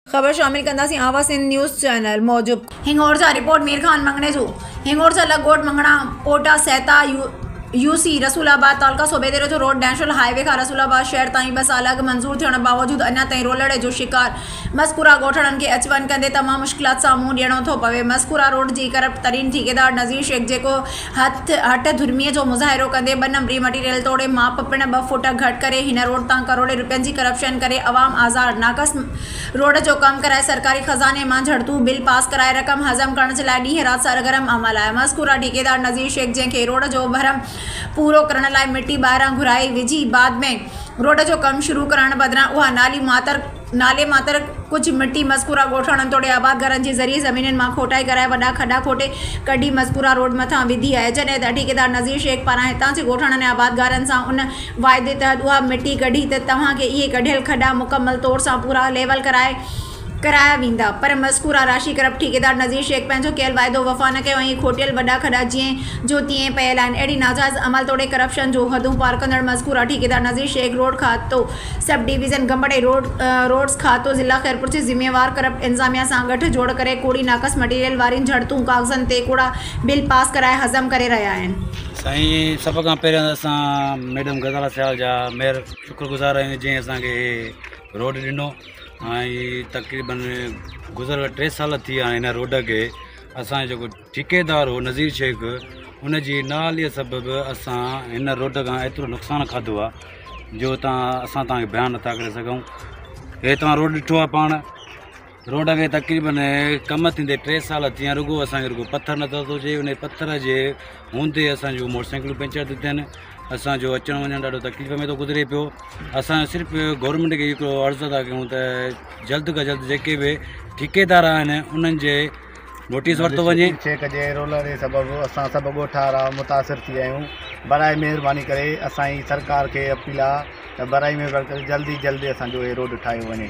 خبر شامل ڪنداسين آواز سنڌ نيوز چينل موجب هنڱورسا رپورٽ مير خان مڱڻيسو هنڱورسا لڳ ڳوٺ مڱڻا پوٽا سهتا يو سي رسول آباد تعلقه صوبيديرو جو روڊ نيشنل هاء وي کان رسول آباد شهر تائين ٻه سال اڳ منظور ٿيڻ باوجود اڃا تائين رولڙي جو شڪار مذڪوره ڳوٺاڻن کي اچ وڃ ڪندي تمام مشڪلات سان منهن ڏيڻو ٿو پوي مذڪوره روڊ جي ڪرپٽ ترين ٺيڪيدار نذير شيخ جيڪو هٿ هٺ ڌرميء جو مظاهرو ڪندي ٻه نمبري مٽيريل توڙي ماپ پڻ ٻه فوٽ گهٽ ڪري هن روڊ تان ڪروڙين رپين جي ڪرپشن ڪري عوام آزار ناقص روڊ جو ڪم ڪرائي سرڪاري خزاني مان جهڙتون بل پاس ڪرائي رقم هضم ڪرڻ جي لاء ڏينهن رات سرگرم عمل آهي مذڪوره ٺيڪيدار نذير شيخ جنهن کي روڊ جو ڀرم پورو ڪرڻ لاء مٽي ٻاهران گهرائي وجهي بعد ۾ روڊ جو ڪم شروع ڪرڻ بدران اها نالي معطر نالي ماتر ڪجهه مٽي مذڪوره ڳوٺاڻن ۽ توڙي آباد گهرن جي زرعي زمينن مان کوٽائي ڪرائي وڏا کڏا کوٽي ڪڍي مذڪوره روڊ مٿان وڌي آهي جڏهن ته ٺيڪيدار نذير شيخ پاران هتان جي ڳوٺاڻن ۽ آبادگارن سان ان واعدي تحت اها مٽي ڪڍي ته توهان کي اهي ڪڍيل کڏا مڪمل طور سان پورا ليول ڪرائي ڪرايا ويندا پر مذڪوره راشي ڪرپٽ ٺيڪيدار نذير شيخ پنهنجو ڪيل واعدو وفا نه ڪيو ۽ اهي کوٽيل وڏا کڏا جئين جو تئين پيل آهن اهڙي ناجائز عمل توڙي ڪرپشن جون حدون پار ڪندڙ مذڪوره ٺيڪيدار نذير شيخ روڊ کاتو سب ڊويزن گمبٽ ۽ روڊز کاتو ضلع خيرپور جي ذميوار ڪرپٽ انظاميا سان گٺ جوڙ ڪري ڪوڙي ناقص مٽيريل وارين جھڙتون ڪاغذن تي ڪوڙا بل پاس ڪرائي ھضم ڪري رھيا آھن. سائين سڀ کان پهريان ته اسان ميڊم غزاله سيال جا مهر شڪر گذار آهيون جنهن اسان کي هي روڊ ڏنو ۽ تقريبن گذريل ٽي سال ٿي ويا آهن هن روڊ کي اسان جو جيڪو ٺيڪيدار هو نذير شيخ، ان جي نااهليء سبب اسان هن روڊ کان ايترو نقصان کاڌو آ جو تان اسان تان کي بيان نٿا ڪري سگهون. هي توهان روڊ ڏٺو آ پاڻ، روڊ کي تقريبن ڪم ٿيندي ٽي سال ٿي ويا آهن رڳو اسان کي رڳو پٿر نظر ٿو اچي، انهي پٿر جي هوندي اسان جون موٽر سائيڪلون پنچر ٿيون ٿين، اسان جو اچڻ وڃڻ ڏاڍو تڪليف ۾ ٿو گذري پيو، اسان صرف گورنمينٽ کي هڪڙو عرض ٿا ڪيون ته جلد کان جلد جيڪي به ٺيڪيدار آهن انهن جي نوٽيس ورتو وڃي. چيڪ جي رولڻي سبب اسان سڀ ڳوٺا را متاثر ٿي ويا آهيون برائي مهرباني ڪري اسان جي سرڪار کي اپيل آ ته برائي مهرباني ڪري جلد ئي جلد اسان جو هي روڊ ٺاهيو وڃي.